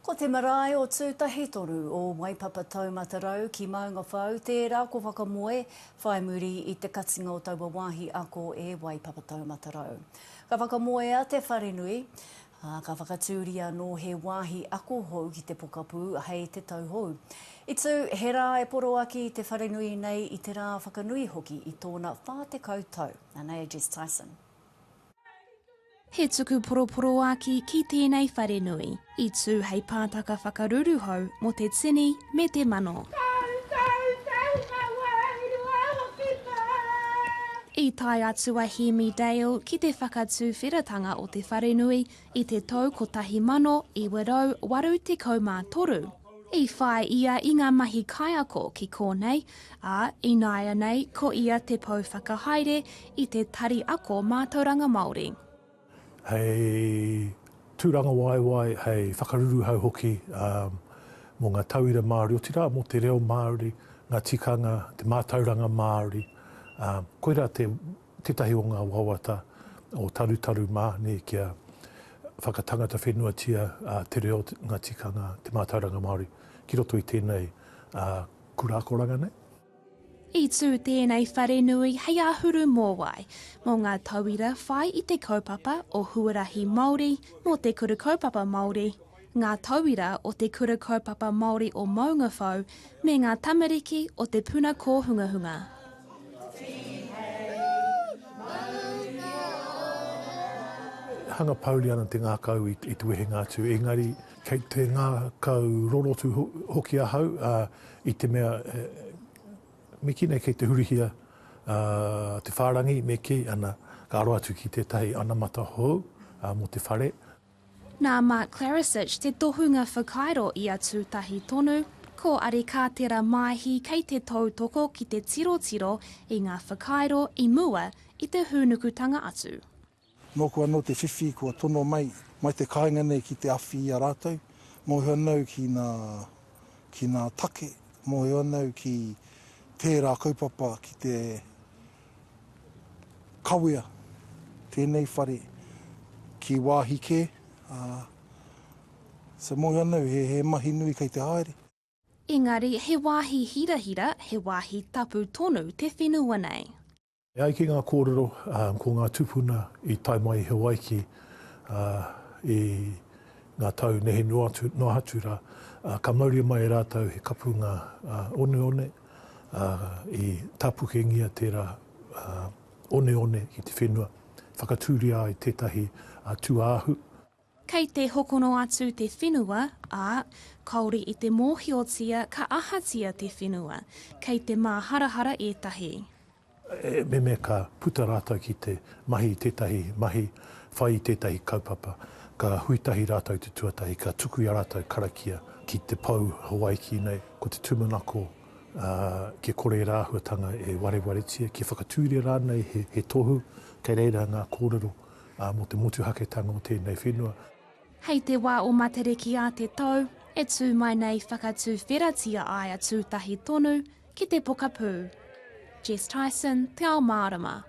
Ko te marae o Tūtahitoru, o Waipapa Taumata Rau ki Maungawhau, tērā ko Whakamoe, whai muri i te katinga o taua wāhi ako e Waipapa Taumata Rau. Ka whakamoea te wharenui, ā, ka whakatūria anō he wāhi ako hou ki te pokapū hei te tauhou. I tū he rā e poroaki te wharenui nei i te rā whakanui hoki i tōna 40 tau. Anei a Jess Tyson. He tuku poroporoāki ki tēnei wharenui. I tū hei pātaka whakaruru hou mō te tini me te mano. I tae atu a Hēmi Dale ki te whakatuwheratanga o te wharenui i te tau 1983. I whai ia i ngā mahi kaiako ki kōnei, ā, ināianei ko ia te pou whakahaere i te Tari Ako Mātauranga Māori. Hei tūrangawaewae, hei whakaruruhau hoki mō ngā tauira Māori, otirā mō te reo Māori, ngā tikanga, te mātauranga Māori, koirā te tētahi o ngā wawata o Tarutaru mā nei kia whakatangata whenuatia te reo, ngā tikanga, te mātauranga Māori ki roto i tēnei kura akoranga nei. I tū tēnei wharenui hei āhuru mōwai mō ngā tauira whai i te kaupapa o Huarahi Māori mō Te Kuru Kaupapa Māori, ngā tauira o Te Kura Kaupapa Māori o Maungawhau me ngā tamariki o te puna kōhungahunga. Hanga pouri ana te ngākau i te wehenga atu, engari. Kei te ngākau rorotu hoki ahau, ā, i te mea, miki nei kei te hurihia te whārangi me kī, ana, ka aro atu ki tētahi anamata hou mō te whare. Nā Mark Klarasich te tohunga whakairo i a Tūtahi tonu, ko Ari Kātera Māehi kei te tautoko ki te tirotiro i ngā whakairo i mua i te hūnukutanga atu. Nōku anō te whiwhi kua tono mai, mai te kāinga nei ki te awhi i a rātou, mōhio anau ki nā, ki nā take, mōhio anau ki tērā kaupapa ki te Kawea tēnei whare ki wāhi kē, ā, sa moe ana au, he, he mahi nui kei te haere. Engari he wāhi hirahira, he wāhi tapu tonu te whenua nei. E ai ki ngā kōrero, ko ngā tūpuna i tae mai i Hawaiki i ngā tau nehe noa atu rā, ka mauria mai e rātou he kapunga oneone, ā, i tāpukengia tērā oneone ki te whenua, whakatūria ai tētahi tūāhu. Kei te hokono atu te whenua, ā, kāore i te mōhiotia ka ahatia te whenua, kei te māharahara ētahi. He meme ka puta rātou ki te mahi i tētahi mahi, whai i tētahi kaupapa, ka hui tahi rātou i te tuatahi, ka tuku i a rātou karakia ki te pou Hawaiki nei, ko te tūmanako kia kore ērā āhuatanga e warewaretia, kia whakatūria rānei he tohu kei reira ngā kōrero mō te motuhaketanga o tēnei whenua. Hei te wā o Matariki a te tau e tū mai nei whakatuwheratia ai a Tūtahi tonu ki te pokapū. Jess Tyson, Te Ao Mārama.